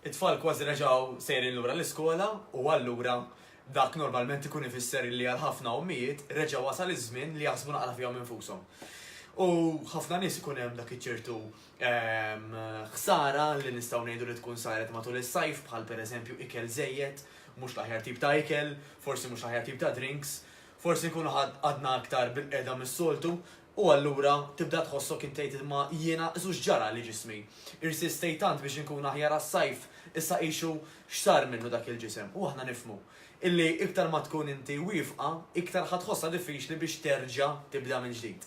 It-tfal kważi reġgħu sejrin lura l-iskola u allura dak normalment ikun ifisser illi għal ħafna ommijiet reġa' wasal iż-żmien li jaħsbu naqra fihom infushom. U ħafna nies ikun hemm dak iċ-ċertu ħsara li nistgħu ngħidu li tkun saret matul is-sajf bħal pereżempju ikel żejjed, mhux l-aħjar tip ta' ikel, forsi mhux l-aħjar tip ta' drinks, forsi nkunu għadna aktar bil-qiegħda mis-soltu U allura tibda tħossok int tgħid imma jiena su x'ġara li ġismi? Irsistejt tant biex inkun aħjar għas-sajf, issa qisu x'sar minnu dak il-ġisem? U aħna nifhmu illi iktar ma tkun inti wiefqa, iktar ħa tħossha diffiċli biex terġa' tibda mill-ġdid.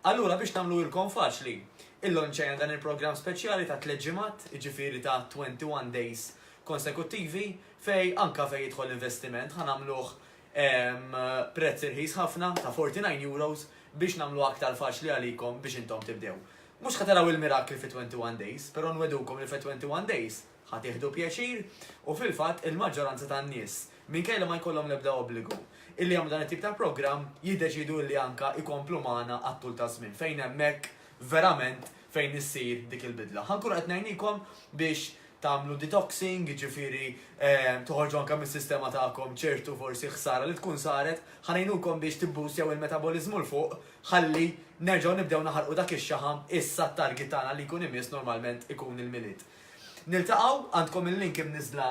Allura biex nagħmluhilkom faċli, illonċajna dan il-programm speċjali ta' tliet ġimgħat, jiġifieri ta' 21 days konsekuttivi, fejn anke fejn jidħol investiment ħa nagħmluh Hemm prezz irħis ħafna ta' €49 biex nagħmluha aktar faċli għalikom biex intom tibdew. Mhux ħa taraw il-mirakli fi 21 days, però nwegħdukom li fi 21 days ħa tieħdu pjaċir u fil-fatt il-maġġoranza tan-nies, minkejja li ma jkollhom l-ebda obbligu, illi jagħmlu dan it-tip ta' programm jiddeċiedu illi anke jkomplu magħna għat-tul taż-żmien fejn hemmhekk verament fejn issir dik il-bidla. Ħa nkunu qed ngħinikom biex tagħmlu detoxing, jiġifieri toħorġu anke mis-sistema tagħkom ċertu forsi ħsara li tkun saret, ħa ngħinukom biex tibboostjaw il-metaboliżmu 'l fuq ħalli nerġgħu nibdew naħarqu dak ix-xaħam issa t-target tagħna li jkun imiss normalment ikun il-Milied. Niltaqgħu, għandkom il-link imniżżla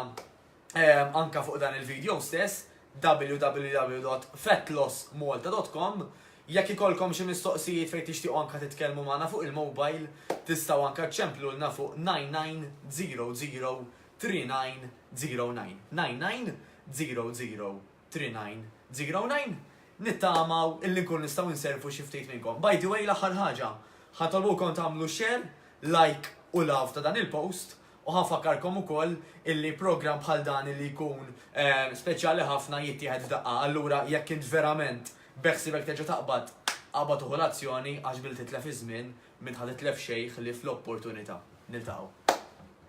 ehm, anka fuq dan il-video stess www.fatlossmalta.com Jekk ikolkom xi mistoqsijiet fejn tixtiequ anka titkellmu magħna fuq il-mobile, tistgħu anka ċemplulna fuq 9900 3909. 9900 Three Nine, Zero Nine, nittamaw illi nkunu nistgħu nservu xi ftit minnkom. By the way, l-aħħar ħaġa, ħa nitolbukom tagħmlu share, like u love ta' dan il-post u ħa nfakkarkom ukoll illi programm bħal dan illi jkun speċjali ħafna jittieħed f'daqqa, allura jekk int verament beħsiebek terġa' taqbad, aqbad u ħu l-azzjoni għax billi titlef iż-żmien, m'int ħa titlef xejn ħlief l-opportunità. Niltaqgħu.